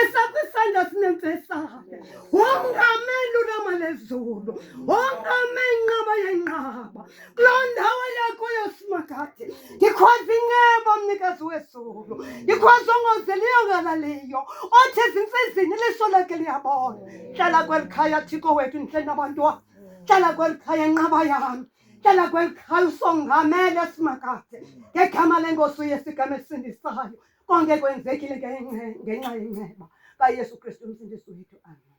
esakwisandla sinemfesayo wongame lulama lezulu wongame inqaba yenqaba kuloo ndawo yakuyo simakade ndikhwaza inceba mnikazi wezulu ndikhwaza ongozeliyo ngalaliyo othi ezintsizini iliso lakhe liyabona hlala kweli khaya thiko wethu ndihle nabantwana hlala kweli khaya nqaba yami hlala kweli khaya usongamele simakade ngegama lengosi uyesigama esisindisayo Konke kwenzekile ngenxa yenceba kaYesu Kristu uMsindisi wethu. Amen.